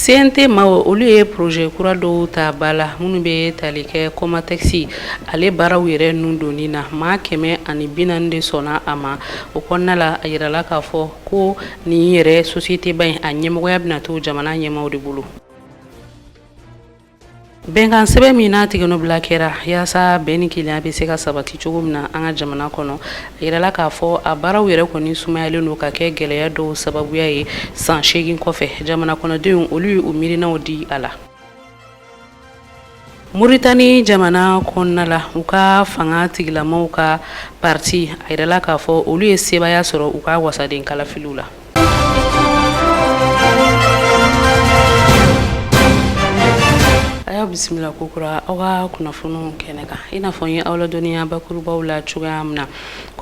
CNT maaw olu ye poroze kura dɔw ta ba la minnu bɛ tali kɛ Comatex ale baaraw yɛrɛ nun donni na maa kɛmɛ ani bi naani de sɔnna a ma o kɔnɔna la a yirala k'a fɔ ko nin yɛrɛ sosiyete ba in a ɲɛmɔgɔya bɛna to jamana ɲɛmaaw de bolo Bɛnkan sɛbɛn min n'a tigɛnɔbila kɛra yaasa bɛn ni kelenya bɛ se ka sabati cogo min na an ka jamana kɔnɔ a jirala k'a fɔ a baaraw yɛrɛ kɔni sumayalen don ka kɛ gɛlɛya dɔw sababuya ye san segin kɔfɛ jamana kɔnɔdenw olu ye u miirinaw di a la Moritani jamana kɔnɔna la u ka fanga tigilamaw ka pati a jirala k'a fɔ olu ye sebaaya sɔrɔ u ka wasaden kalafiliw la Ayiwa aw bisimila kokura aw ka kunnafoniw kɛnɛ kan i n'a fɔ n ye aw ladɔnniya bakurubaw la cogoya min na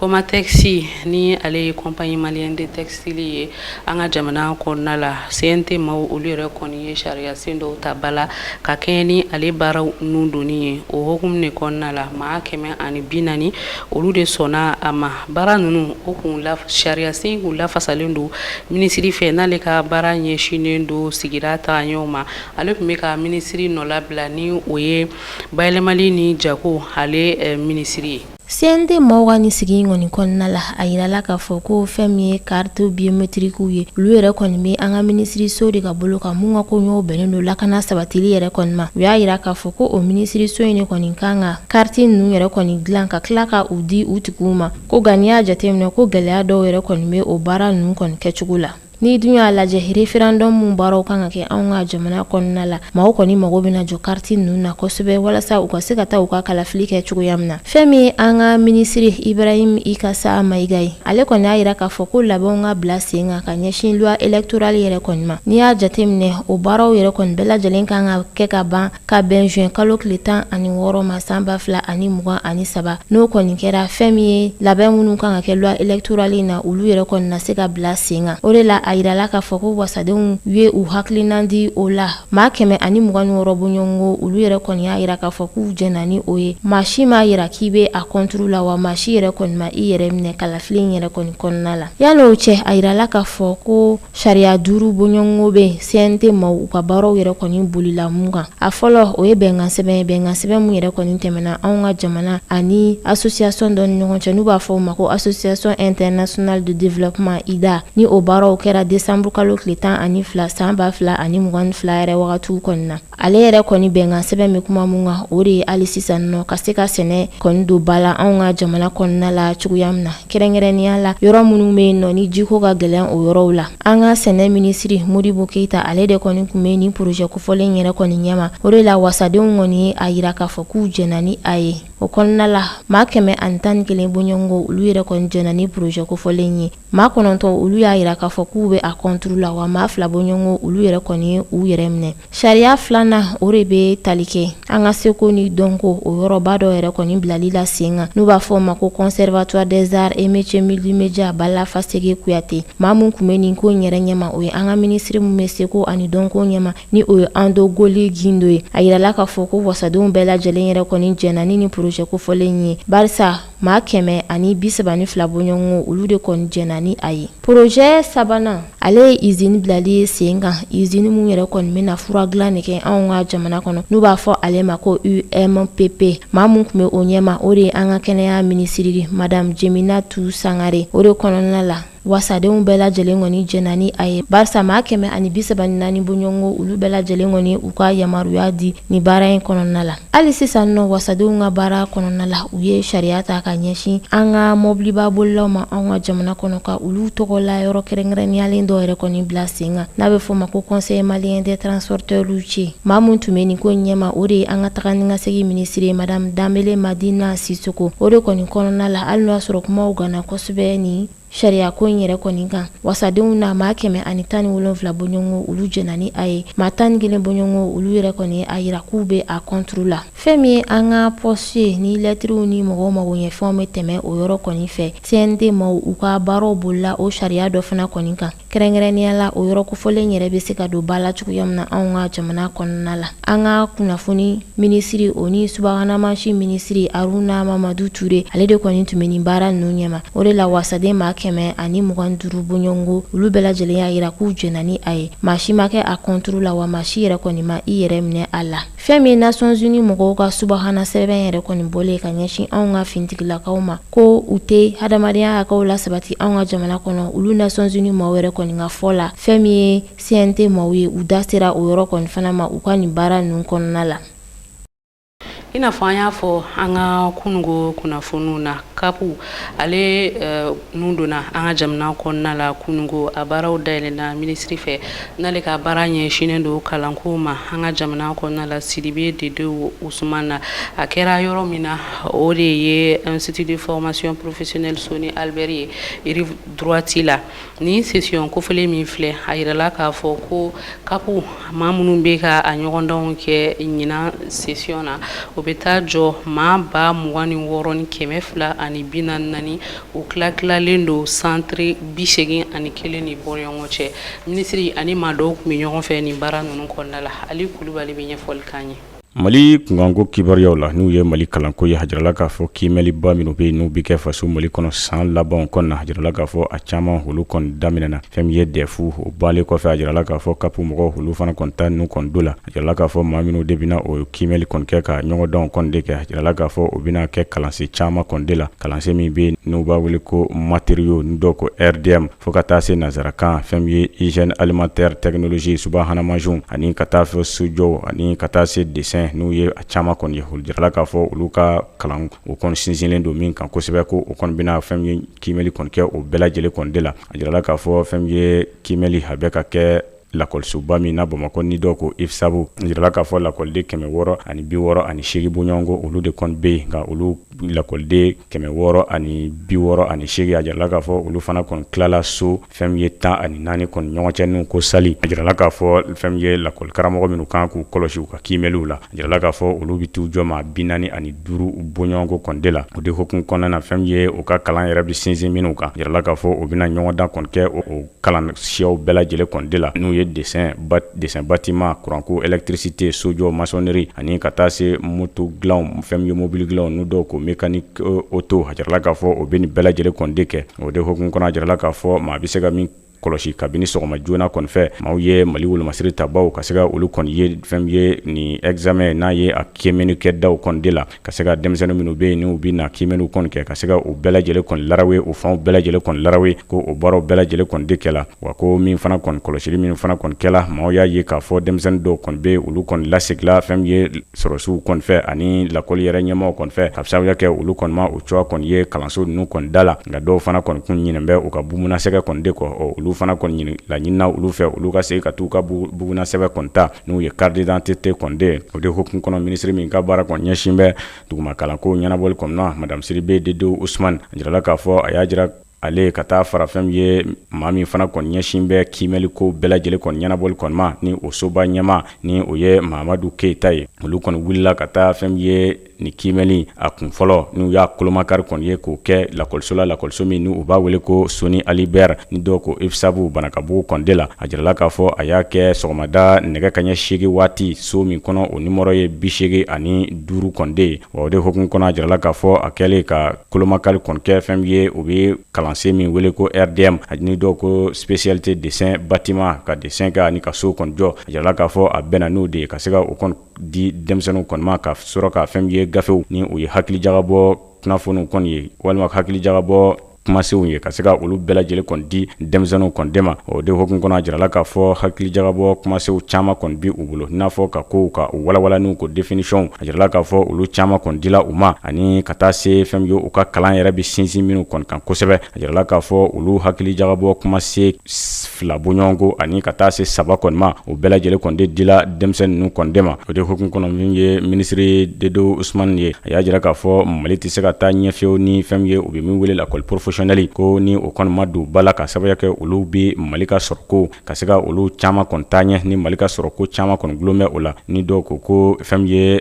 Comatex ni ale ye compagnie malienne de textile ye an ka jamana kɔnɔna la CNT maaw olu yɛrɛ kɔni ye sariya sen dɔw ta ba la ka kɛɲɛ ni ale baaraw nun donni ye o hokumu de kɔnɔna la maa kɛmɛ ani bi naani olu de sɔnna a ma Baara ninnu o kun sariyasen kun lafasalen don minisiri fɛ n'ale ka baara ɲɛsinnen don sigira tagaɲɛw ma ale kun bɛ ka minisiri nɔlabila ni o ye bayɛlɛmali ni jago ale minisiri ye CNT maaw ka ni sigi in kɔni kɔnɔna la a jirala k'a fɔ ko fɛn min ye kariti biyometirikiw ye olu yɛrɛ kɔni bɛ an ka minisiriso de ka bolo kan mun ka koɲɛw bɛnnen don lakana sabatili yɛrɛ kɔni ma u y'a jira k'a fɔ ko o minisiriso in de kɔni kan ka Kariti ninnu yɛrɛ kɔni dilan ka tila ka u di u tigiw ma ko nka n'i y'a jateminɛ ko gɛlɛya dɔw yɛrɛ kɔni bɛ o baara ninnu kɔni kɛcogo la n'i dun y'a lajɛ referandɔmu mun baaraw kan ka kɛ anw ka jamana kɔnɔna la maaw kɔni mago bɛna jɔ kariti ninnu na kosɛbɛ walasa u ka se ka taa u ka kalafili kɛ cogoya min na fɛn min an ka minisiri Ibrahim Ikassa Maïga ye ale kɔni y'a jira k'a fɔ ko labɛnw ka bila sen kan ka ɲɛsin loi électorale yɛrɛ kɔni ma n'i y'a jateminɛ o baaraw yɛrɛ kɔni bɛɛ lajɛlen kan ka kɛ ka ban ka bɛn juin kalo tile tan ani wɔɔrɔ ma san ba fila ani mugan ani saba n'o kɔni kɛra fɛn min ye labɛn minnu kan ka kɛ loi électorale in na olu yɛrɛ kɔni na se ka bila sen kan o de la a jirala k'a fɔ ko wasadenw ye u hakilina di o la maa kɛmɛ ani mugan ni wɔɔrɔ bɔɲɔgɔnko olu yɛrɛ kɔni y'a jira k'a fɔ k'u jɛnna ni o ye maa si m'a jira k'i bɛ a kɔnturu la wa maa si yɛrɛ kɔni ma i yɛrɛ minɛ kalafili in yɛrɛ kɔni kɔnɔna la yann'o cɛ a jirala k'a fɔ ko Sariya duuru bɔɲɔgɔnko bɛ CNT maaw ka baaraw yɛrɛ kɔni bolila mun kan a fɔlɔ o ye bɛnkan sɛbɛn ye bɛnkan sɛbɛn mun yɛrɛ kɔni tɛmɛna anw ka jamana ani association dɔ ni ɲɔgɔn cɛ n'u b'a fɔ o ma ko association internationale de développement IDA ni o baaraw kɛra décembre kalo tile tan ani fila san ba fila ani mugan ni fila yɛrɛ wagatiw kɔni na Ale yɛrɛ kɔni bɛnkan sɛbɛn bɛ kuma min kan o de ye hali sisan nɔ ka se ka sɛnɛ kɔni don ba la anw ka jamana kɔnɔna la cogoya min na kɛrɛnkɛrɛnnenya la yɔrɔ minnu bɛ yen nɔ ni jiko ka gɛlɛn o yɔrɔw la an ka sɛnɛ minisiri modibo keyita ale de kɔni tun bɛ nin porozɛ kofɔlen yɛrɛ kɔni ɲɛma o de la wasadenw kɔni ye a jira k'a fɔ k'u jɛnna ni a ye o kɔnɔna la maa kɛmɛ ani tan ni kelen bɔɲɔgɔnko olu yɛrɛ kɔni jɛnna ni porozɛ kofɔlen ye maa kɔnɔntɔn olu y'a jira k'a fɔ k'u bɛ a kɔnturu la wa maa fila bɔɲɔgɔnko olu yɛrɛ kɔni ye u yɛrɛ minɛ sariya filanan o de bɛ tali kɛ an ka seko ni dɔnko o yɔrɔba dɔ yɛrɛ kɔni bilali la sen kan n'u b'a fɔ o ma ko conservatoire des arts et métiers multimédia bala faseke kuyate maa min tun bɛ nin ko yɛrɛ ɲɛma o ye an ka minisiri min bɛ seko ani dɔnko ɲɛma ni o ye andogoli gindo ye a yirala k'a fɔ ko wasadenw bɛɛ lajɛlen yɛrɛ kɔni jɛnna ni nin projet kofɔlen ye barisa maa kɛmɛ ani bisaba ni fila bɔɲɔgɔnko olu de kɔni jɛnna ni a ye porozɛ sabanan ale ye izini bilali ye sen kan izini min yɛrɛ kɔni bɛna fura dilan de kɛ anw ka jamana kɔnɔ n'u b'a fɔ ale ma ko umpp maa min tun bɛ o ɲɛma o de ye an ka kɛnɛya minisiri ye madame jeminatu sangare o de kɔnɔna la wasadenw bɛɛ lajɛlen kɔni jɛnna ni a ye barisa maa kɛmɛ ani bisaba ni naani bɔɲɔgɔnko olu bɛɛ lajɛlen kɔni u ka yamaruya di ni baara in kɔnɔna la hali sisan nɔ wasadenw ka baara kɔnɔna la u ye sariya ta ka ɲɛsin an ka mɔbiliba bolilaw ma anw ka jamana kɔnɔ ka olu tɔgɔ la yɔrɔ kɛrɛnkɛrɛnniyalen dɔ yɛrɛ kɔni bila sen kan n'a bɛ fɔ ma ko conseil malien des transporteurs routiers maa min tun bɛ nin ko ɲɛma o de ye an ka taga ni ka segin minisiri madame danbele madina sisoko o de kɔni kɔnɔna la hali n'o y'a sɔrɔ kumaw ganna kosɛbɛ sɛbɛ nin sariya ko in yɛrɛ kɔni kan wasadenw na maa kɛmɛ ani tan ni wolonwula bɔɲɔgɔnko olu jɛnna ni a ye maa tan ni kelen bɔɲɔgɔnko olu yɛrɛ kɔni a yira k'u bɛ a kɔnturu la fɛn min ye an ka pɔsi ye ni lɛtiriw ni mɔgɔw magoɲɛfɛnw bɛ tɛmɛ o yɔrɔ kɔni fɛ cnt maw u ka baaraw bolila o sariya dɔ fana kɔni kan Kɛrɛnkɛrɛnnenya la o yɔrɔ kofɔlen yɛrɛ bɛ se ka don ba la cogoya min na anw ka jamana kɔnɔna la an ka kunnafoni minisiri o ni subahana mansin minisiri aruna mamadu ture ale de kɔni tun bɛ nin baara ninnu ɲɛma o de la wasaden maa kɛmɛ ani mugan duuru bɔɲɔgɔnko olu bɛɛ lajɛlen y'a jira k'u jɛnna ni a ye maa si ma kɛ a kɔnturu la wa maa si yɛrɛ kɔni ma i yɛrɛ minɛ a la Fɛn min ye nations unies mɔgɔw ka subahana sɛbɛn yɛrɛ kɔni bɔlen ye ka ɲɛsin anw ka finitigilakaw ma, ko u tɛ hadamadenya hakɛw lasabati anw ka jamana kɔnɔ, olu nations unies maaw yɛrɛ kɔni ka fɔ la, fɛn min ye CNT maaw ye, u da sera o yɔrɔ kɔni fana ma u ka nin baara ninnu kɔnɔna la. I n'a fɔ an y'a fɔ an ka kununko kunnafoniw na, CAP ale tun donna an ka jamana kɔnɔna la kununko, a baaraw dayɛlɛnna minisiri fɛ. N'ale ka baara ɲɛsinnen don kalanko ma an ka jamana kɔnɔna la Sidibe Dedewu Usman na a kɛra yɔrɔ min na o de ye Institut de formation professionnelle Soni Ali Bɛri ye rive droite la ni session kofɔlen min filɛ a jirala k'a fɔ ko kapu maa minnu bɛ ka a ɲɔgɔndanw kɛ ɲinan session na o bɛ taa jɔ maa ba mugan ni wɔɔrɔ ni kɛmɛ fila ani bi naani o tila tilalen don santiri bi seegin ani kelen ni bɔɲɔgɔn cɛ minisiri ani maa dɔw tun bɛ ɲɔgɔn fɛ nin baara ninnu kɔnɔna la ali kulubali bɛ ɲɛfɔli k'an ye mali kunkanko kibaruyaw la n'u ye mali kalanko ye a jirala k'a fɔ kiimɛliba minnu bɛ yen n'u bɛ kɛ faso mali kɔnɔ san labanw kɔnɔ na a jirala k'a fɔ a caman olu kɔni daminɛna fɛn min ye dɛfu o banlen kɔfɛ a jirala k'a fɔ kapu mɔgɔw olu fana kɔni ta n'u kɔni do la A jirala k'a fɔ maa minnu de bɛna o kiimɛli kɔni kɛ ka ɲɔgɔndan kɔni de kɛ a jirala k'a fɔ u bɛna kɛ kalansen caman kɔni de la kalansen min bɛ n'u b'a wele ko matériaux ni dɔw ko RDM fo ka taa se nansarakan fɛn min ye hygiène alimentaire technologie subahana mansinw ani ka taa fɛ sojɔ ani ka taa se dessin n'u ye a caman kɔni ye a jirala k'a fɔ olu ka kalan o kɔni sinsinlen don min kan kosɛbɛ ko u kɔni bɛna fɛn min ye kiimɛli kɔni kɛ o bɛɛ lajɛlen kɔni de la a jirala k'a fɔ fɛn min ye kiimɛli a bɛ ka kɛ lakɔlisoba min na bamakɔ ni dɔw ko IFSAB a jirala k'a fɔ lakɔliden kɛmɛ wɔɔrɔ ani bi wɔɔrɔ ani seegin bɔɲɔgɔnko olu de kɔni bɛ yen nka olu lakɔliden kɛmɛ wɔɔrɔ ani bi wɔɔrɔ ani seegin a jirala k'a fɔ olu fana kɔni tilala so fɛn min ye tan ani naani kɔni ɲɔgɔn cɛ n'u ko salle a jirala k'a fɔ fɛn min ye lakɔlikaramɔgɔ minnu ka kan k'u kɔlɔsi u ka kiimɛliw la a jirala k'a fɔ olu bɛ t'u jɔ maa bi naani ani duuru bɔɲɔgɔnko kɔni de la o de hukumu kɔnɔna na fɛn min ye u ka kalan yɛrɛ bɛ sinsin minnu kan a jirala k'a fɔ u bɛna ɲɔgɔndan kɔni kɛ o kalan siyaw bɛɛ lajɛlen kɔni de la n'u ye dessin bâtiment kuranko électricité sojɔ maçonnerie ani ka taa se moto dilan fɛn min ye mobili dilan ni dɔw ko mécanique auto a jirala k'a fɔ o bɛ nin bɛɛ lajɛlen kɔni de kɛ o de hukumu kɔnɔ a jirala k'a fɔ maa bɛ se ka min kɔlɔsi kabini sɔgɔma joona kɔni fɛ maaw ye mali wolomasiri tabaw ka se ka olu kɔni ye fɛn min ye ni examen n'a ye a kiimɛni kɛ daw kɔni de la ka se ka denmisɛnnin minnu bɛ yen n'u bɛna kiimɛniw kɔni kɛ ka se ka u bɛɛ lajɛlen kɔni larawe u fanw bɛɛ lajɛlen kɔni larawe ko o baaraw bɛɛ lajɛlen kɔni de kɛla wa ko min fana kɔni kɔlɔsili min fana kɔni kɛla maaw y'a ye k'a fɔ denmisɛnnin dɔw kɔni bɛ olu kɔni lasegila fɛn min ye sɔrɔsiw kɔni fɛ ani lakɔli yɛrɛ ɲɛmaaw kɔni fɛ ka sababuya kɛ olu kɔni ma o cogoya kɔni ye kalanso ninnu kɔni da la nka dɔw fana kɔni kun ɲinɛn bɛ u ka bugunasɛbɛ kɔni de kɔ ɔ olu fana kɔni laɲinina olu fɛ olu ka segin ka t'u ka bugunasɛbɛ kɔni ta n'u ye carte d'identité kɔni de ye o de hukumu kɔnɔ minisiri min ka baara kɔni ɲɛsin bɛ duguma kalanko ɲɛnabɔli kɔni ma madamu Sidibe Dedewu Usmani a jirala k'a fɔ a y'a jira ale ka taa fara fɛn min ye maa min fana kɔni ɲɛsin bɛ kiimɛli ko bɛɛ lajɛlen kɔni ɲɛnabɔli kɔni ma ni o soba ɲɛmaa ni o ye Mamadu Keyita ye olu kɔni wulila ka taa fɛn min ye ni kiimɛli a kun fɔlɔ n'u y'a kolomakari kɔni ye k'o kɛ lakɔliso la lakɔliso min u b'a wele ko soni ali ber ni dɔw ko ifsabu banakabugu kɔni de la a jirala k'a fɔ a y'a kɛ sɔgɔmada nɛgɛ kaɲɛ seegin waati so min kɔnɔ o nimɔrɔ ye biseegin ani duuru kɔni de ye wa o de hukumu kɔnɔ a jirala k'a fɔ a kɛlen ka kolomakari kɔni kɛ fɛn ye u bɛ kalansen min wele ko rdm a ni dɔw ko spécialité dessin bâtiment ka dessin kɛ ani ka so kɔni jɔ a jirala k'a fɔ a bɛnna n'o de ye ka se ka o kɔni di denmisɛnninw kɔni ma ka sɔrɔ ka fɛn ye gafew ni u ye hakilijakabɔ kunnafoniw kɔni ye walima hakilijakabɔ kumasenw ye ka se ka olu bɛɛ lajɛlen kɔni di denmisɛnninw kɔni de ma o de hukumu kɔnɔ a jirala k'a fɔ hakilijakabɔ kumasenw caman kɔni bi u bolo n'a fɔ ka kow ka u walawala n'u ko définitionw a jirala k'a fɔ olu caman kɔni dila u ma ani ka taa se fɛn ye u ka kalan yɛrɛ bɛ sinsin minnu kɔni kan kosɛbɛ a jirala k'a fɔ olu hakilijakabɔ kumasen fila bɔɲɔgɔnko ani ka taa se saba kɔni ma o bɛɛ lajɛlen kɔni de dila denmisɛn ninnu kɔni de ma o de hukumu kɔnɔ min ye minisiri dedewu usmani ye a y'a jira k'a fɔ mali tɛ se ka taa ɲɛ fewu ni fɛn ye u bɛ min wele lakɔli professionnel ko ni o kɔni ma don ba la k'a sababu kɛ olu bɛ mali ka sɔrɔko ka se ka olu caman kɔni taa ɲɛ ni mali ka sɔrɔko caman kɔni dulonnen bɛ o la ni dɔw ko ko fɛn ye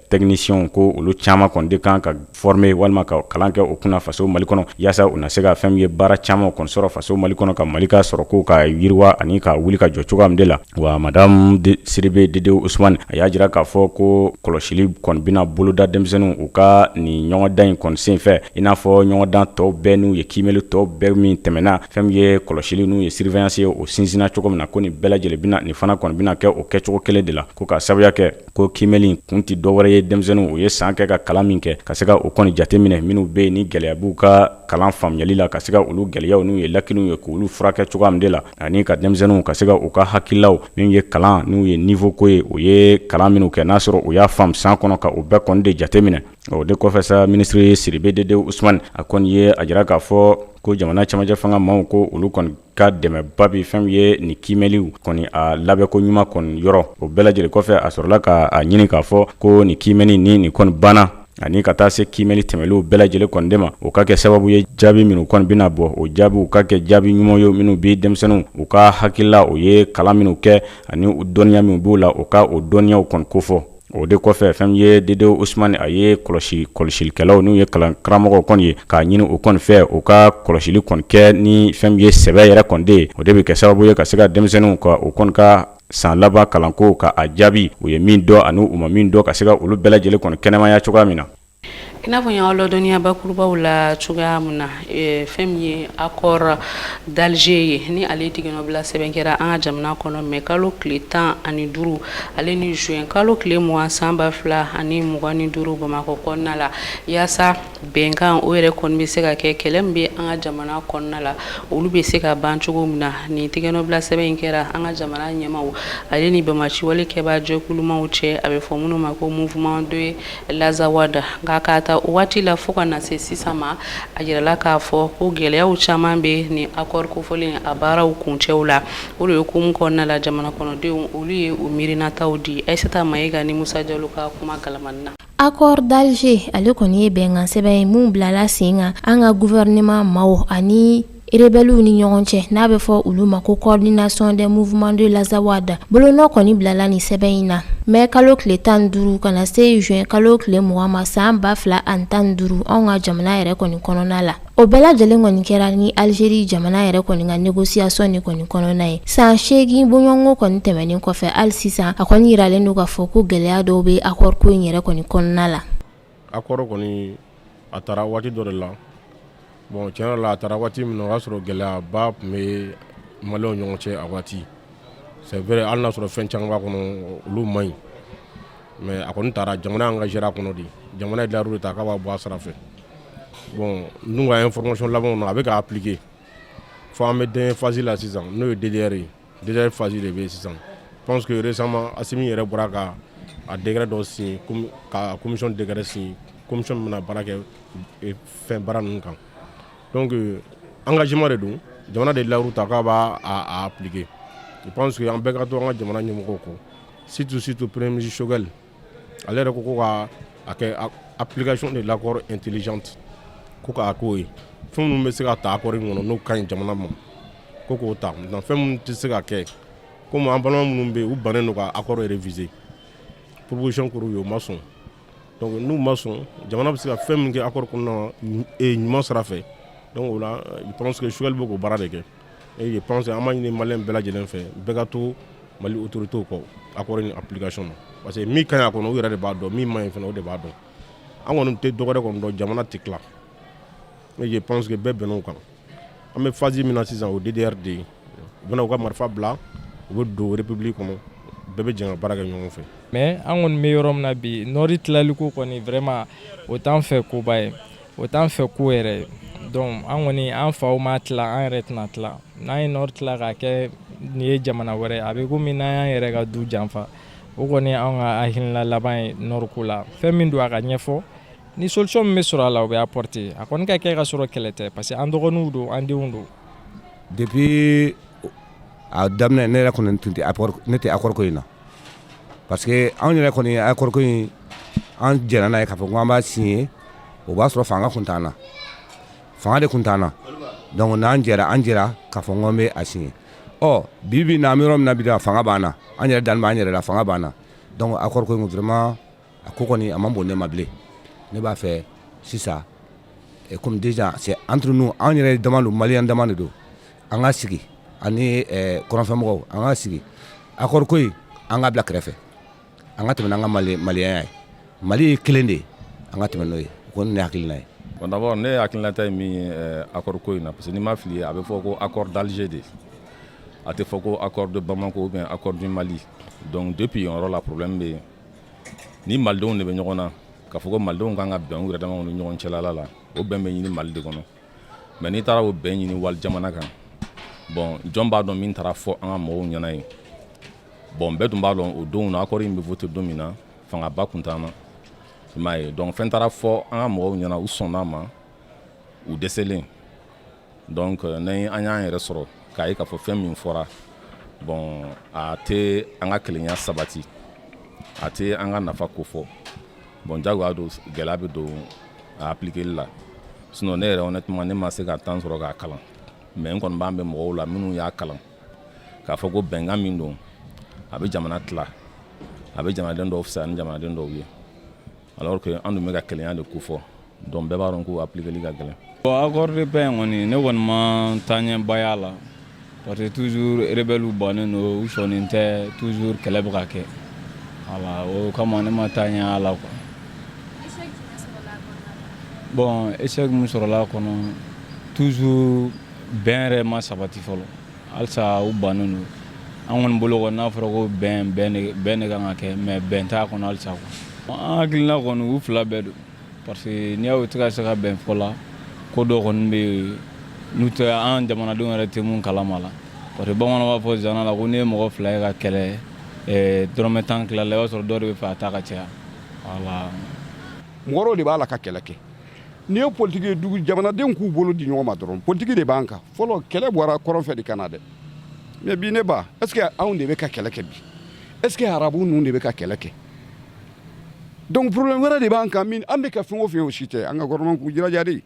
technicienw ko olu caman kɔni de kan ka former walima ka kalan kɛ o kunna faso mali kɔnɔ yaasa u na se ka fɛn ye baara caman kɔni sɔrɔ faso mali kɔnɔ ka mali ka sɔrɔko k'a yiriwa ani k'a wuli ka jɔ cogoya min de la wa madamu sidibe dedewu usmani a y'a jira k'a fɔ ko kɔlɔsili kɔni bɛna boloda denmisɛnninw u ka nin ɲɔgɔndan in kɔni senfɛ i n'a fɔ ɲɔgɔndan tɔw bɛɛ n'u ye kiimɛli tɔw bɛɛ min tɛmɛna fɛn ye kɔlɔsili n'u ye surveillance ye o sinsinna cogo min na ko nin bɛɛ lajɛlen bɛna nin fana kɔni bɛna kɛ o kɛcogo kelen de la ko k'a sababu kɛ ko kiimɛli kun tɛ dɔwɛrɛ ye denmisɛnninw u ye san kɛ ka kalan min kɛ ka se ka o kɔni jateminɛ minnu bɛ yen ni gɛlɛya b'u ka kalan faamuyali la ka se ka olu gɛlɛyaw n'u ye lacunew ye k'olu furakɛ cogoya min de la ani ka denmisɛnninw ka se ka u ka hakililaw min ye kalan n'u ye niveau ko ye u ye kalan minnu kɛ n'a sɔrɔ u y'a faamu san kɔnɔ ka o bɛɛ kɔni de jateminɛ o de kɔfɛ sa minisiri sidibe dedewu usumani a kɔni ye a jira k'a fɔ ko jamana camancɛ fanga maaw ko olu kɔni ka dɛmɛba bi fɛn ye nin kiimɛliw kɔni a labɛnko ɲuman kɔni yɔrɔ o bɛɛ lajɛlen kɔfɛ a sɔrɔla k'a ɲini k'a fɔ ko nin kiimɛli ni nin kɔni banna ani ka taa se kiimɛli tɛmɛlenw bɛɛ lajɛlen kɔni de ma o ka kɛ sababu ye jaabi minnu kɔni bɛna bɔ o jaabiw ka kɛ jaabi ɲuman ye minnu bɛ denmisɛnninw u ka hakilila u ye kalan minnu kɛ ani dɔnniya min b'u la o ka o dɔnniyaw kɔni kofɔ O de kɔfɛ fɛn ye dedewu osmani a ye kɔlɔsi kɔlɔsilikɛlaw n'u ye kalan karamɔgɔw kɔni ye k'a ɲini u kɔni fɛ u ka kɔlɔsili kɔni kɛ ni fɛn ye sɛbɛ yɛrɛ kɔni de ye o de bɛ kɛ sababu ye ka se ka denmisɛnninw ka u kɔni ka san laban kalanko ka a jaabi u ye min dɔn ani u ma min dɔn ka se ka olu bɛɛ lajɛlen kɔni kɛnɛmaya cogoya min na i n'a fɔ n y'aw ladɔnniya bakurubaw la cogoya min na eh, fɛn min ye accord d'Alger ye ni ale tigɛnɔbila sɛbɛn kɛra an ka jamana kɔnɔ mai kalo tile tan ani duuru ale ni juin kalo tile mugan san ba fila ani mugan ni duuru bamakɔ kɔnɔna la yaasa bɛnkan o yɛrɛ kɔni bɛ se ka kɛ kɛlɛ min bɛ an ka jamana kɔnɔna la olu bɛ se ka ban cogo min na nin tigɛnɔbila sɛbɛn in kɛra an ka jamana ɲɛmaaw ale ni banbaanciwale kɛbaa jɛkulumaw cɛ a bɛ fɔ minnu ma ko mouvement de l'Azawad nka k'a ta o waati la fo ka na se sisan ma a yirala k'a fɔ ko gɛlɛyaw caman bɛ nin accord kofɔlen a baaraw kuncɛw la o de ye hukumu kɔnɔna la jamana kɔnɔdenw olu ye u miirinataw di Ayisata Mayiga ni Musa Jalo ka kuma kalamani na Accord d'Alger ale kɔni ye bɛnkansɛbɛn ye min bilala sen kan an ka gouvernement maaw ani Rebelles ni ɲɔgɔn cɛ n'a bɛ fɔ olu ma ko coordination des mouvements de l'Azawad bolonɔ kɔni bilala nin sɛbɛn in na mai kalo tile tan duuru kana na se zy kalo tile 2 ma san ba fila ani tan duuru an ka jamana yɛrɛ kɔni kɔnɔna la o bɛɛ lajɛlen kɔni kɛra ni Algérie jamana yɛrɛ kɔni ka négociation ni kɔni kɔnɔna ye san seegin bɔɲɔgɔnko kɔni tɛmɛnen kɔfɛ hali sisan a kɔni yiralen don k'a fɔ ko gɛlɛya dɔw bɛ accord ko in yɛrɛ kɔni kɔnɔna la accord kɔni a tara waati dɔ de la bon tiɲɛ yɛrɛ la a tara waati min na o y'a sɔrɔ gɛlɛyaba tun bɛ maliyɛnw ɲɔgɔn cɛ a waati c'est vrai hali n'a sɔrɔ fɛn caman b'a kɔnɔ olu man ɲi mais a kɔni tara jamana engagera a kɔnɔ de jamana ye dayiru de ta k'a b'a bɔ a sira fɛ bon n ka information laban na a bɛ k'a appliquer fɔ an bɛ dernière phase la sisan n'o ye DDR ye DDR phase de bɛ yen sisan je pense que récemment Asimi yɛrɛ bɔra ka a décret dɔ signer ka commission décret signer commission min bɛna baara kɛ fɛn baara ninnu kan donc engagement de don jamana de ye layiru ta k'a b'a appliquer je pense que an bɛɛ ka to an ka jamana ɲɛmɔgɔw kɔ surtout surtout premier ministre Choguel ale yɛrɛ ko ko ka a kɛ application de l'accord intelligente ko k'a k'o ye fɛn minnu bɛ se ka ta accord in kɔnɔ n'o ka ɲi jamana ma ko k'o ta maintenant fɛn minnu tɛ se ka kɛ komi an balima minnu bɛ yen u bannen don ka accord réviser proposition kɛra u ye u ma sɔn donc n'u ma sɔn jamana bɛ se ka fɛn min kɛ accord kɔnɔna na ɲuman sira fɛ donc o la je pense que Choguel bɛ k'o baara de kɛ Et je pense an b'a ɲini maliyɛn bɛɛ lajɛlen fɛ bɛɛ ka to Mali autorités kɔ accord in application na parce que min ka ɲi a kɔnɔ u yɛrɛ de b'a dɔn min man ɲi fana u de b'a dɔn an kɔni tɛ dɔwɛrɛ kɔni dɔn jamana tɛ tila et je pense que bɛɛ bɛnna o kan an bɛ phase min na sisan o ye DDR de ye u bɛna u ka marifa bila u bɛ don république kɔnɔ bɛɛ bɛ jɛ ka baara kɛ ɲɔgɔn fɛ mais an kɔni bɛ yɔrɔ min na bi nord tilali ko kɔni vraiment o t'an fɛ koba ye. O t'an fɛ ko yɛrɛ ye donc an kɔni an faw ma tila an yɛrɛ tɛna tila n'an ye nɔri tila ka kɛ nin ye jamana wɛrɛ a bɛ komi n'an y'an yɛrɛ ka du janfa o kɔni an ka hakilina laban ye nɔri ko la fɛn min don a ka ɲɛfɔ ni solution min bɛ sɔrɔ a la o bɛ apporter a kɔni ka kɛ ka sɔrɔ kɛlɛ tɛ parce que an dɔgɔninw don an denw don depuis a daminɛ ne yɛrɛ kɔni tun tɛ ne tɛ accord ko in na Parce que anw yɛrɛ kɔni accord ko in an jɛra n'a ye k'a fɔ k'an b'a signer o b'a sɔrɔ fanga kun t'an na, fanga de kun t'an na donc n'an jɛra an jɛra k'a fɔ k'an b'a signer ɔ bi bi in na an bɛ yɔrɔ min na bi fanga b'an na, an yɛrɛ dalen b'an yɛrɛ la fanga b'an na donc accord ko in vraiment a ko kɔni a man bon ne ma bilen ne b'a fɛ sisan comme déjà c'est entre nous anw yɛrɛ dama don maliyɛn dama de don an ka sigi ani kɔrɔnfɛmɔgɔw an ka sigi accord ko in an ka bila kɛrɛfɛ an ka tɛmɛ n'an ka maliyɛnya ye Mali ye kelen de ye an ka tɛmɛ n'o ye o kɔni ne hakilina ye bon d'abord ne hakilinata ye min ye accord ko in na parce que n'i ma fili a bɛ fɔ ko accord d'Alger de a tɛ fɔ ko accord de Bamako ou bien accord du Mali donc depuis yen yɔrɔ la problème bɛ yen ni malidenw de bɛ ɲɔgɔn na k'a fɔ ko malidenw kan ka bɛn u yɛrɛ damaw ni ɲɔgɔn cɛlala la o bɛn bɛ ɲini Mali de kɔnɔ mais n'i taara o bɛn ɲini wali jamana kan bon jɔn b'a dɔn min taara fɔ an ka mɔgɔw ɲɛna yen bon bɛɛ tun b'a dɔn o don na accord in bɛ voter don min na fangaba kun t'an na i m'a ye donc fɛn taara fɔ an ka mɔgɔw ɲɛna u sɔnn'a ma u dɛsɛlen Donc n'an y'an yɛrɛ sɔrɔ k'a ye k'a fɔ fɛn min fɔra bon a tɛ an ka kelenya sabati a tɛ an ka nafa ko fɔ bon jagoya don gɛlɛya bɛ don a appliquer li la sinon ne yɛrɛ honnêtement ne ma se ka temps sɔrɔ k'a kalan mais n kɔni b'a mɛn mɔgɔw la minnu y'a kalan k'a fɔ ko bɛnkan min don a bɛ jamana tila a bɛ jamanaden dɔw fisaya ni jamanaden dɔw ye Alors que an dun bɛ ka kelenya de ko fɔ donc bɛɛ b'a dɔn k'o appliquer li ka gɛlɛn. Bon accord de paix in kɔni ne kɔni ma taaɲɛba y'a la parce que toujours rebelles bannen don u sɔnnen tɛ toujours kɛlɛ bɛ ka kɛ voilà o kama ne ma taaɲɛ y'a la quoi. Échec jumɛn sɔrɔla a kɔnɔna na? Bon échec min sɔrɔla a kɔnɔ toujours bɛn yɛrɛ ma sabati fɔlɔ. halisa u bannen don an kɔni bolo kɔni n'a fɔra ko bɛn bɛn de kan ka kɛ mais bɛn t'a kɔnɔ halisa quoi an hakilina kɔni u fila bɛɛ don parce que n'i y'u tɛ ka se ka bɛn fɔ la ko dɔ kɔni bɛ yen n'o tɛ an jamanadenw yɛrɛ tɛ mun kalama la parce que bamananw b'a fɔ zana la ko n'i ye mɔgɔ fila ye ka kɛlɛ eh, dɔrɔmɛ tan tila la i b'a sɔrɔ dɔ de b'a fɛ a ta ka caya voilà mɔgɔw de b'a la ka kɛlɛ kɛ n'i ye politiki ye dugu jamanadenw k'u bolo di ɲɔgɔn ma dɔrɔn politiki de b'an kan fɔlɔ kɛlɛ bɔra kɔrɔn fɛ de ka na dɛ mais bi ne ba est ce que anw de bɛ ka kɛlɛ kɛ bi est ce que arabu ninnu de bɛ ka kɛlɛ kɛ donc problème wɛrɛ de b'an kan min an bɛ ka fɛn o fɛn o si tɛ an ka gouvernement k'u jilaja de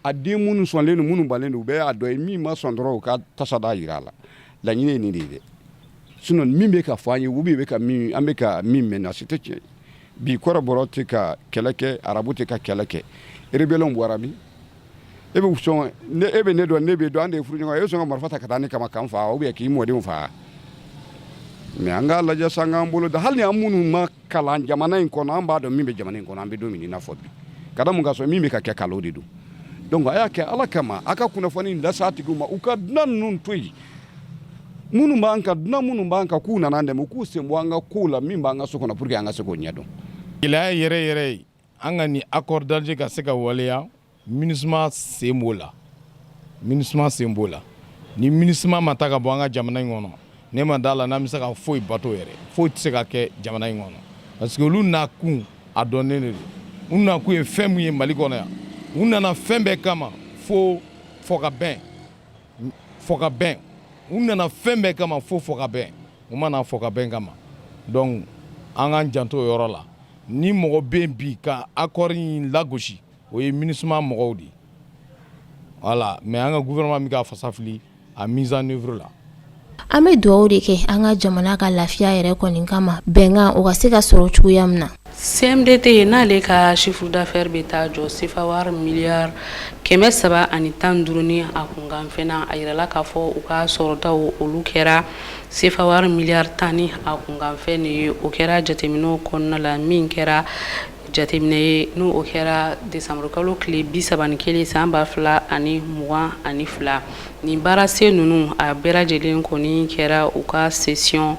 a den minnu sɔnlen don minnu banlen don u bɛɛ y'a dɔ ye min ma sɔn dɔrɔn u ka tasa d'a jira a la laɲini ye nin de ye dɛ sinon min bɛ ka fɔ an ye ou bien bɛ ka min an bɛ ka min mɛn a si tɛ tiɲɛ ye Bi kɔrɔbɔrɔ tɛ ka kɛlɛ kɛ arabu tɛ ka kɛlɛ kɛ rebɛliw bɔra min e bɛ sɔn e bɛ ne dɔn ne b'e dɔn an de ye furuɲɔgɔn ye e sɔn ka marifa ta ka taa ne kama k'an faa ou bien k'i mɔdenw faa mais an k'a lajɛ sa an k'an bolo da hali an minnu ma kalan jamana in kɔnɔ an b'a dɔn min bɛ jamana in kɔnɔ an b'o dɔn min i n'a fɔ bi ka mun k'a sɔrɔ min bɛ ka kɛ nkalon de don donc a y'a kɛ ala kama aw ka kunnafoni d'a tigiw ma u ka dunan ninnu to yen minnu b'an kan dunan minnu b'an kan k'u nana an dɛmɛ u k'u sen bɔ an ka kow la min b'an ka so kɔnɔ pour que an ka se k'o ɲɛdɔn gɛlɛya yɛrɛ yɛrɛ ye an ka nin accord d'Alger ka se ka waleya MINUSMA sen b'o la MINUSMA sen b'o la ni MINUSMA ma taa ka bɔ an ka jamana in kɔnɔ ne ma d'a la n'an bɛ se ka foyi bato yɛrɛ foyi tɛ se ka kɛ jamana in kɔnɔ parce que olu nakun a dɔnnen de don u nakun ye fɛn min ye Mali kɔnɔ yan u nana fɛn bɛɛ kama fo fɔ ka bɛn u nana fɛn bɛɛ kama fo fɔ ka bɛn u ma na fɔ ka bɛn kama donc an k'an janto o yɔrɔ la ni mɔgɔ bɛ yen bi ka accord in lagosi o ye MINUSMA mɔgɔw de ye voilà mais an ka gouvernement bɛ k'a fasa fili a mise en œuvre la An bɛ dugaw de kɛ an ka jamana ka lafiya yɛrɛ kɔni kama bɛnkan o ka se ka sɔrɔ cogoya min na CMDT ye n'ale ka chiffre d'affaires bɛ taa jɔ sefa wari miya kɛmɛ saba ani tan duuru a kunkanfɛnna a yɛrɛla k'a fɔ u ka sɔrɔtaw olu kɛra sefa wari miliyari tan ni a kunkanfɛn de ye o kɛra jateminɛ kɔnɔna la min kɛra jateminɛ ye n'o o kɛra desanburukalo tile bi saba ni kelen san ba fila ani mugan ani fila nin baarasen ninnu a bɛɛ lajɛlen kɔni kɛra u ka session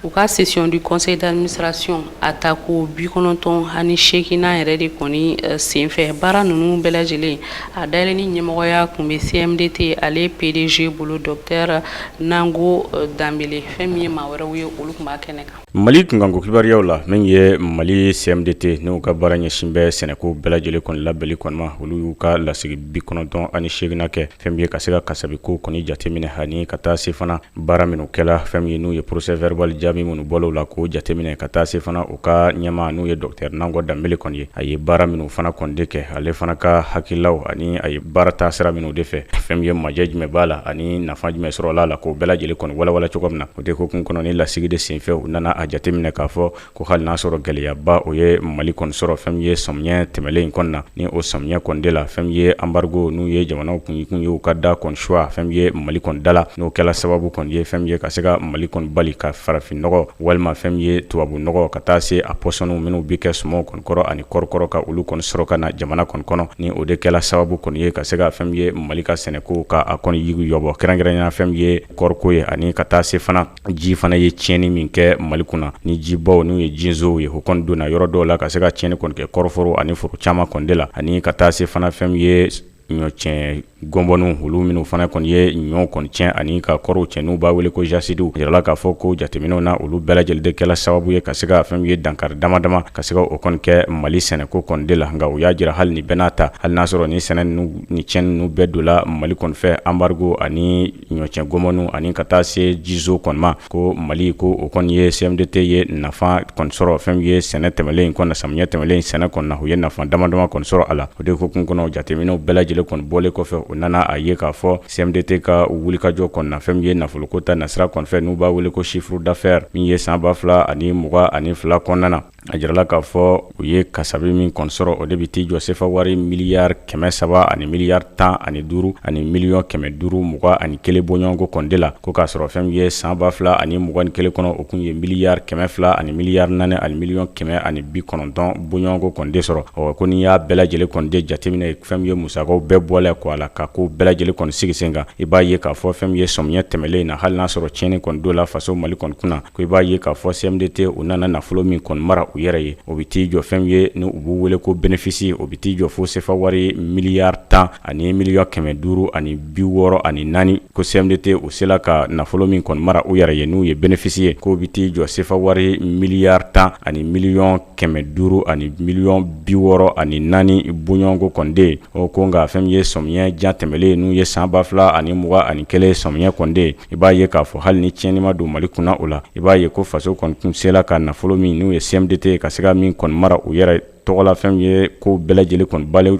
u ka session du conseil d'administration a tako bi kɔnɔntɔn ani seeginnan yɛrɛ de kɔni eh, senfɛ baara ninnu bɛɛ lajɛlen a dayɛlɛli ɲɛmɔgɔya tun bɛ CMDT ale PDG bolo docteur Nango eh, Danbele fɛn min ye maa wɛrɛw ye olu tun b'a kɛnɛ kan Mali kunkanko kibaruyaw la min ye Mali CMDT n'u ka baara ɲɛsin bɛ sɛnɛko bɛɛ lajɛlen kɔni labɛnli kɔni ma, olu y'u ka lasigi 98 nan kɛ, fɛn min ye ka se ka kasabi kow kɔni jateminɛ ani ka taa se fana baara minnu kɛla, fɛn min ye n'u ye procès verbal jaabi minnu bɔla u la k'o jateminɛ ka taa se fana u ka ɲɛmaa n'o ye docteur Nango Danbele kɔni ye, a ye baara minnu fana kɔni de kɛ, ale fana ka hakililaw ani a ye baara ta sira minnu de fɛ, fɛn min ye majɛ jumɛn b'a la ani nafa jumɛn sɔrɔla a la k'o bɛɛ lajɛlen kɔni walawala cogoya min na. O de hukumu kɔnɔ ni lasigi de senfɛ u nana a jateminɛ k'a fɔ ko hali n'a sɔrɔ gɛlɛyaba o ye mali kɔni sɔrɔ fɛn min ye samiyɛ tɛmɛnlen in kɔni na ni o samiyɛ kɔni de la fɛn min ye anbarigo n'u ye jamanaw kun kun ye u ka da kɔni suwa fɛn min ye mali kɔni da la n'o kɛla sababu kɔni ye fɛn min ye ka se ka mali kɔni bali ka farafin nɔgɔ walima fɛn min ye tubabu nɔgɔ ka taa se a pɔsɔniw minnu bɛ kɛ sumanw kɔni kɔrɔ ani kɔri kɔrɔ ka olu kɔni sɔrɔ ka na jamana kɔni kɔnɔ ni o de kɛla sababu kɔni ye ka se ka fɛn min ye mali ka sɛnɛko k'a kɔni yigiyɔgɔ kɛrɛnkɛrɛnya fɛn ye kɔriko ye ani ka taa se fana ji fana ye tiɲɛni min kɛ mali kunna ni jibaw n'u ye jinsow ye o kɔni donna yɔrɔ dɔw la ka se ka tiɲɛni kɔni kɛ kɔriforo ani foro caman kɔni de la ani ka taa se fana fɛn min ye ɲɔ tiɲɛ ngɔbɔninw olu minnu fana kɔni ye ɲɔ kɔni tiɲɛ ani ka kɔriw tiɲɛ n'u b'a wele ko jasidiw jirala k'a fɔ ko jateminɛw na olu bɛɛ lajɛlen de kɛla sababu ye ka se ka fɛn min ye dankari dama dama ka se ka o kɔni kɛ mali sɛnɛko kɔni de la nka u y'a jira hali nin bɛɛ n'a ta hali n'a sɔrɔ ni sɛnɛ ni tiɲɛni ninnu bɛɛ don la mali kɔni fɛ anbarigo ani ɲɔ tiɲɛ ngɔbɔninw ani ka taa se jizo kɔni ma ko mali ko o kɔni ye CMDT ye nafa kɔni sɔrɔ fɛn min ye sɛnɛ tɛmɛnlen in kɔni na samiyɛ tɛmɛnlen in sɛnɛ kɔni na u ye nafa dama dama kɔni sɔrɔ a la o de hukumu kɔnɔ jateminɛw bɛɛ lajɛlen kɔni bɔlen kɔfɛ u nana a ye k'a fɔ CMDT ka wulikajɔ kɔni na fɛn min ye nafoloko ta nasira kɔni fɛ n'u b'a wele ko chiffre d'affaires min ye san ba fila ani mugan ani fila kɔnɔna na A jirala k'a fɔ u ye kasabi min kɔni sɔrɔ o de bɛ t'i jɔ sefa wari miliyari kɛmɛ saba ani miliyari tan ani duuru ani miliyɔn kɛmɛ duuru mugan ani kelen bɔɲɔgɔnko kɔni de la ko k'a sɔrɔ fɛn min ye san ba fila ani mugan ni kelen kɔnɔ o kun ye miliyari kɛmɛ fila ani miliyari naani ani miliyɔn kɛmɛ ani bi kɔnɔntɔn bɔɲɔgɔnko kɔni de sɔrɔ o ko n'i y'a bɛɛ lajɛlen kɔni de jateminɛ fɛn min ye musakaw bɛɛ bɔlen kɔ a la ka ko bɛɛ lajɛlen kɔni sigi sen kan i b'a ye k'a fɔ fɛn min ye samiyɛ tɛmɛnlen in na hali n'a sɔrɔ tiɲɛni kɔni don la faso mali kɔni kunna ko i b'a ye k'a fɔ CMDT u nana nafolo min kɔni mara u yɛrɛ ye o bɛ t'i jɔ fɛn min ye ni u b'u wele ko bénéfice o bɛ t'i jɔ fo sefa wari miliyari tan ani miliyɔn kɛmɛ duuru ani bi wɔɔrɔ ani naani ko CMDT u sela ka nafolo min kɔni mara u yɛrɛ ye n'u ye bénéfice ye k'o bɛ t'i jɔ sefa wari miliyari tan ani miliyɔn kɛmɛ duuru ani miliyɔn bi wɔɔrɔ ani naani bɔɲɔgɔnko kɔni de ye o ko nka fɛn min ye sɔmiyɛ jan tɛmɛlen n'u ye san ba fila ani mugan ani kelen sɔmiyɛ kɔni de ye i b'a ye k'a fɔ hali ni tiɲɛni ma don mali kunna o la i b'a ye ko faso kɔni kun sela ka nafolo min n'u ye CMDT ye ka se ka min kɔni mara u yɛrɛ tɔgɔ la fɛn min ye ko bɛɛ lajɛlen kɔni banlen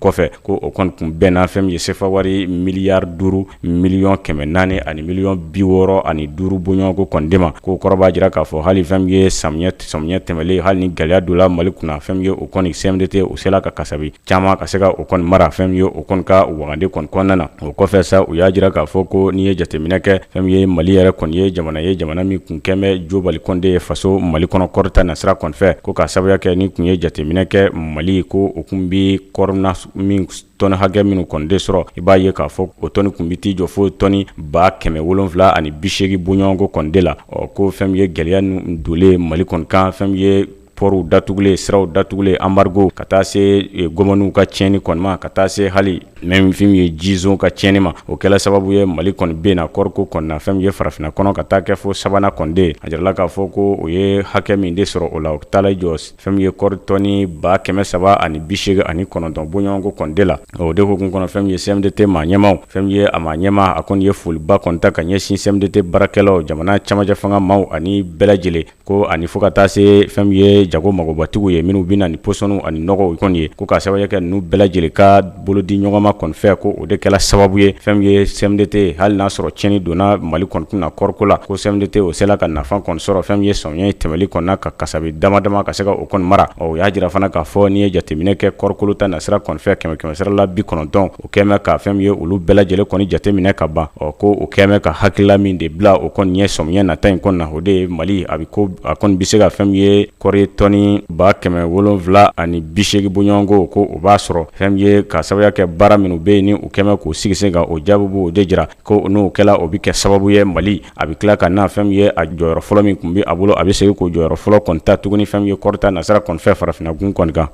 kɔfɛ ko o kɔni kun bɛnna fɛn min ye sefa wari miliyari duuru miliyɔn kɛmɛ naani ani miliyɔn bi wɔɔrɔ ani duuru bɔɲɔgɔnko kɔni de ma k'o kɔrɔ b'a jira k'a fɔ hali fɛn min ye samiyɛ tɛmɛlen hali ni gɛlɛya don la mali kunna fɛn min ye o kɔni CMDT o sela ka kasabi caman ka se ka o kɔni mara fɛn ye o kɔni ka wagande kɔni kɔnɔna na o kɔfɛ sa u y'a jira k'a fɔ ko n'i ye jateminɛ kɛ fɛn ye mali yɛrɛ kɔni ye jamana ye jamana min kun kɛmɛ jobali kɔni de ye faso mali kɔnɔ kɔrita nasira kɔni fɛ ko ka sababuya kɛ n'i tun ye jateminɛ kɛ mali ko o tun bɛ kɔri nin min tɔni hakɛ minnu kɔni de sɔrɔ i b'a ye k'a fɔ o tɔni tun bɛ t'i jɔ fo tɔni ba kɛmɛ wolonwula ani bisegin bɔɲɔgɔnko kɔni de la ɔ ko fɛn ye gɛlɛya ninnu donlen mali kɔni kan fɛn ye pɔriw datugulen siraw datugulen anbarigo ka taa se eh, gɔmɔniw ka tiɲɛni kɔni ma ka taa se hali même fɛn ye jizon ka tiɲɛni ma o kɛla sababu ye mali kɔni binna kɔriko kɔnɔna fɛn ye farafinna kɔnɔ ka taa kɛ fo sabanan kɔni de ye a jirala k'a fɔ ko o ye hakɛ min de sɔrɔ o la o taala i jɔ fɛn ye kɔri tɔni ba kɛmɛ saba ani bisegin ani kɔnɔntɔn bɔɲɔgɔnko kɔni de la o de hukumu kɔnɔ fɛn ye CMDT maa ɲɛmaw fɛn ye a maa ɲɛma a kɔni ye foliba kɔni ta ka ɲɛsin CMDT baarakɛlaw jamana camancɛ fanga maaw ani bɛɛ lajɛlen ko ani fo ka taa se fɛn ye jago magobatigiw ye minnu bɛ na ni pɔsɔniw ani nɔgɔw kɔni ye ko ka sababu kɛ n'u bɛɛ lajɛlen ka bolo di ɲɔgɔnma kɔni fɛ ko o de kɛla sababu ye fɛn ye CMDT hali n'a sɔrɔ tiɲɛni donna mali kɔni kun na kɔriko la ko CMDT o sela ka nafa kɔni sɔrɔ fɛn ye samiyɛ tɛmɛlen kɔnɔna ka kasabi dama dama ka se ka o kɔni mara o y'a jira fana k'a fɔ n'i ye jateminɛ kɛ kɔrikolo ta nasira kɔni fɛ kɛmɛsira la bi kɔnɔntɔn o kɛlen bɛ ka fɛn ye olu bɛɛ lajɛlen kɔni jateminɛ ka ban ɔ ko o kɛlen bɛ ka hakilila min de bila o kɔni ɲɛ samiyɛ nata in kɔnɔna o de ye mali a bɛ ko a kɔni bɛ se ka fɛn ye kɔri tɔni ba kɛmɛ wolonwula ani bisegin bɔɲɔgɔnko ko o b'a sɔrɔ fɛn ye ka sababuya kɛ baara minnu bɛ yen ni u kɛlen k'o sigi sen kan o jaabi b'o de jira ko n'o kɛla o bɛ kɛ sababu ye mali a bɛ tila ka na fɛn ye a jɔyɔrɔ fɔlɔ min tun bɛ a bolo a bɛ segin k'o jɔyɔrɔ fɔlɔ kɔni ta tuguni fɛn ye kɔrita nasira kɔni fɛ farafinna gun kɔni kan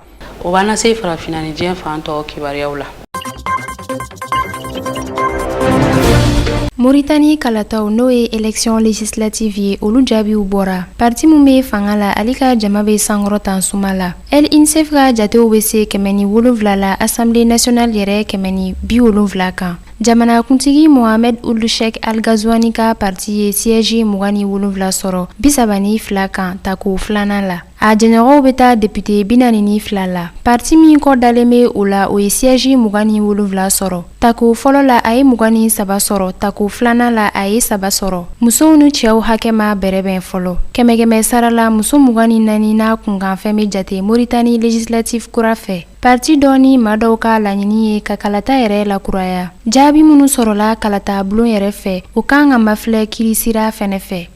o b'an lase farafinna ni diɲɛ fan tɔw kibaruyaw la Mauritanie kalataw n'o ye élection législative ye olu jaabiw bɔra parti min bɛ fanga la ale ka jama bɛ sankɔrɔtan suma la El Insaf ka jatew bɛ se kɛmɛ ni wolonwula la assemblée nationale yɛrɛ kɛmɛ ni bi wolonwula kan jamanakuntigi Mohamed Ould Cheikh El Ghazouani ka parti ye siège mugan ni wolonwula sɔrɔ bi saba ni fila kan tako filanan la A jɛɲɔgɔnw bɛ taa député bi naani ni fila la parti min kɔ dalen bɛ o la o ye siège mugan ni wolonwula sɔrɔ tako fɔlɔ la a ye mugan ni saba sɔrɔ tako filanan la a ye saba sɔrɔ musow ni cɛw hakɛ ma bɛrɛbɛn fɔlɔ kɛmɛkɛmɛ sara la muso mugan ni naani n'a kunkanfɛn bɛ jate Mauritanie législative kura fɛ parti dɔ ni maa dɔw ka laɲini ye ka kalata yɛrɛ lakuraya jaabi minnu sɔrɔla kalata bulon yɛrɛ fɛ o kan ka mafilɛ kiirisira fɛnɛ fɛ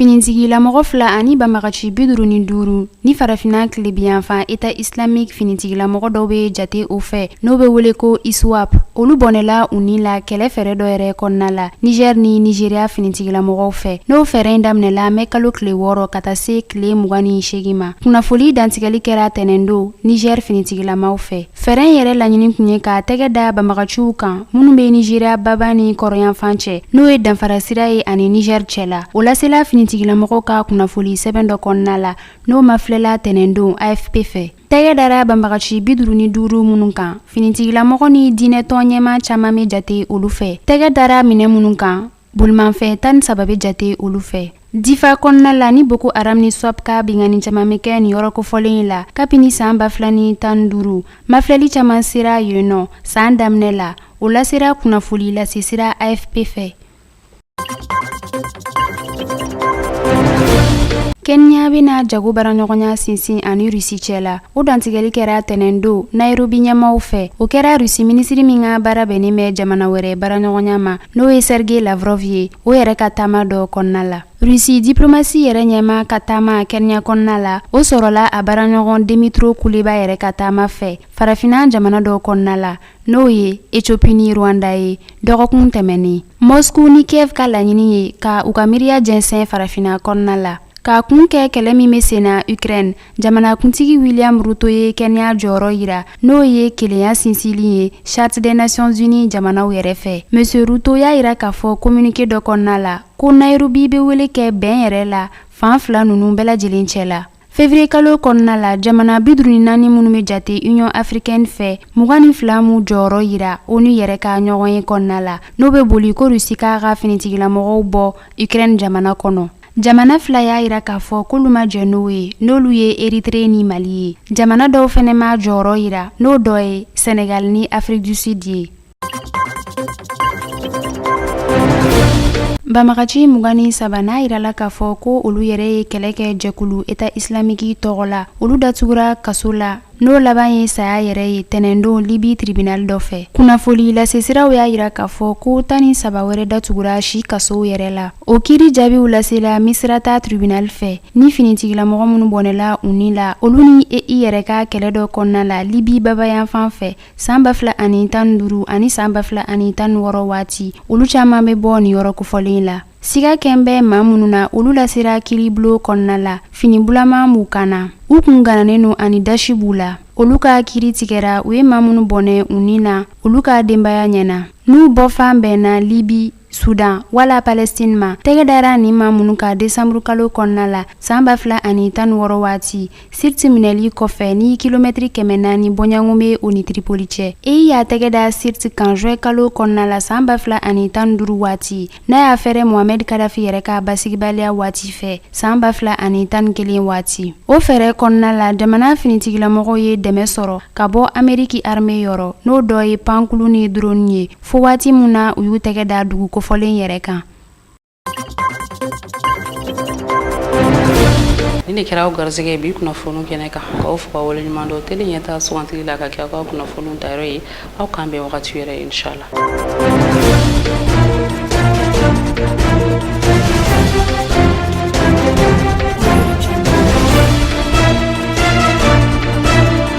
Finitigilamɔgɔ fila ani banbagaci bi duuru ni duuru ni farafinna tilebinyanfan Etat islamique finitigilamɔgɔ dɔw bɛ jate o fɛ n'o bɛ wele ko iswap olu bɔnɛla u ni la kɛlɛ fɛɛrɛ dɔ yɛrɛ kɔnɔna la Niger ni Nigeria finitigilamɔgɔw fɛ n'o fɛɛrɛ in daminɛla mɛ kalo tile wɔɔrɔ ka taa se tile mugan ni seegin ma kunnafoli dantigɛli kɛra tɛnɛndon Niger finitigilamaw fɛ Fɛɛrɛ in yɛrɛ laɲini kun ye ka tɛgɛ da banbagaciw kan minnu bɛ Nigeria baba ni kɔrɔnyanfan cɛ n'o ye danfara sira ye ani Niger cɛ la. O lasela finitigilamɔgɔw ka kunnafoli sɛbɛn dɔ kɔnɔna la n'o mafilɛla tɛnɛndon AFP fɛ. Tɛgɛ dara banbagaci bi duuru ni duuru minnu kan, finitigilamɔgɔ ni diinɛtɔn ɲɛmaa caman bɛ jate olu fɛ. Tɛgɛ dara minɛn minnu kan, Bolimafɛn tan ni saba bɛ jate olu fɛ difa kɔnɔna la ni boko haram ni iswap ka binkanni caman bɛ kɛ nin yɔrɔ kofɔlen in la kabini saan ba fila ni tan duuru mafilɛli caman sera yen nɔ saan daminɛ la o lasera kunnafoli lase sira afp fɛ kenya bɛna jago baaraɲɔgɔnya sinsin ani rusi cɛ la o dantigɛli kɛra tɛnɛn don nairobi ɲɛmaw fɛ o kɛra rusi minisiri min ka baara bɛnnen bɛ jamana wɛrɛ baaraɲɔgɔnya ma n'o ye sergei lavrov ye o yɛrɛ ka taama dɔ kɔnɔna la rusi diplomasi yɛrɛ ɲɛma ka taama kenya kɔnɔna la o sɔrɔla a baaraɲɔgɔn demitro kuleba yɛrɛ ka taama fɛ farafinna jamana dɔ kɔnɔna la n'o ye etiopi ni rwanda ye dɔgɔkun tɛmɛnen mosku ni kiev ka laɲini ye ka u ka miiriya jɛnsɛn farafinna kɔnɔna la ka kun kɛ kɛlɛ min bɛ sen na ukraine Jamanakuntigi wiliyam ruto ye kenya jɔyɔrɔ yira n'o ye kelenya sinsinli ye charte des nations unies jamanaw yɛrɛ fɛ monsieur ruto y'a yira k'a fɔ kominike dɔ kɔnɔna la ko nayirobi bɛ wele kɛ bɛn yɛrɛ la fan fila ninnu bɛɛ lajɛlen cɛ la février kalo kɔnɔna la jamana bi duuru ni naani minnu bɛ jate union africaine fɛ mugan ni fila m'u jɔyɔrɔ yira onu yɛrɛ ka ɲɔgɔn ye kɔnɔna la n'o bɛ boli ko rusi k'a ka finitigilamɔgɔw bɔ ukraine jamana kɔnɔ Jamana fila y'a yira k'a fɔ k'olu ma jɛn n'o ye n'olu ye Eritrea ni Mali ye, jamana dɔw fɛnɛ ma jɔyɔrɔ yira n'o dɔ ye Senegal ni Afrique du Sud ye. Banbagaci mugan ni saba n'a yirala k'a fɔ ko olu yɛrɛ ye kɛlɛ kɛ jɛkulu Etat islamique tɔgɔ la, olu datugura kaso la. N'o laban ye saya yɛrɛ ye tɛnɛndon libi tribinali dɔ fɛ kunnafoli lasesiraw y'a yira k'a fɔ ko tan ni saba wɛrɛ datugura si kasow yɛrɛ la o kiiri jaabiw lasela misirata tribinali fɛ ni finitigilamɔgɔ minnu bɔnɛla u ni la olu ni e i yɛrɛ ka kɛlɛ dɔ kɔnɔna la libi babayanfan fɛ saan ba fila ani tan duuru ani saan ba fila ani tan wɔɔrɔ waati olu caaman be bɔ nin yɔrɔ kofɔlen la Siga kɛn bɛ maa minnu na olu lasera kiiribulon kɔnɔna la fini bulama b'u kan na u kun ganannen don ani dasi b'u la olu ka kiiri tigɛra u ye maa minnu bɔnɛ u ni na olu ka denbaya ɲɛ na n'u bɔfan bɛnna libi sudan wala palɛstin ma tɛgɛ dara nin maa minnu kan desanburukalo kɔnɔna la san ba fila ani tan wɔɔrɔ waati siriti minɛli kɔfɛ ni kilomɛtiri kɛmɛ naani bɔɲɔgɔn bɛ o ni tiripoli cɛ ei y'a tɛgɛ da siriti kan juin kalo kɔnɔna la san ba fila ani tan ni duuru waati n'a y'a fɛrɛ mohamɛd kadafi yɛrɛ ka basigibaliya waati fɛ san ba fila ani tan ni kelen waati o fɛɛrɛ kɔnɔna la jamana finitigilamɔgɔw ye dɛmɛ sɔrɔ ka bɔ ameriki arme yɔrɔ n'o dɔ ye pankulu ni droni ye fo waati min na u y'u tɛgɛ da dugu kofɔlen yɛrɛ kan nin de kɛra aw garisɛgɛ ye bi kunnafoniw kɛnɛ kan k'aw fo k'aw waleɲuman dɔn tele ɲɛtaa sugandili la k'a kɛ aw ka kunnafoniw dayɔrɔ ye aw k'an bɛn wagati wɛrɛ inshallah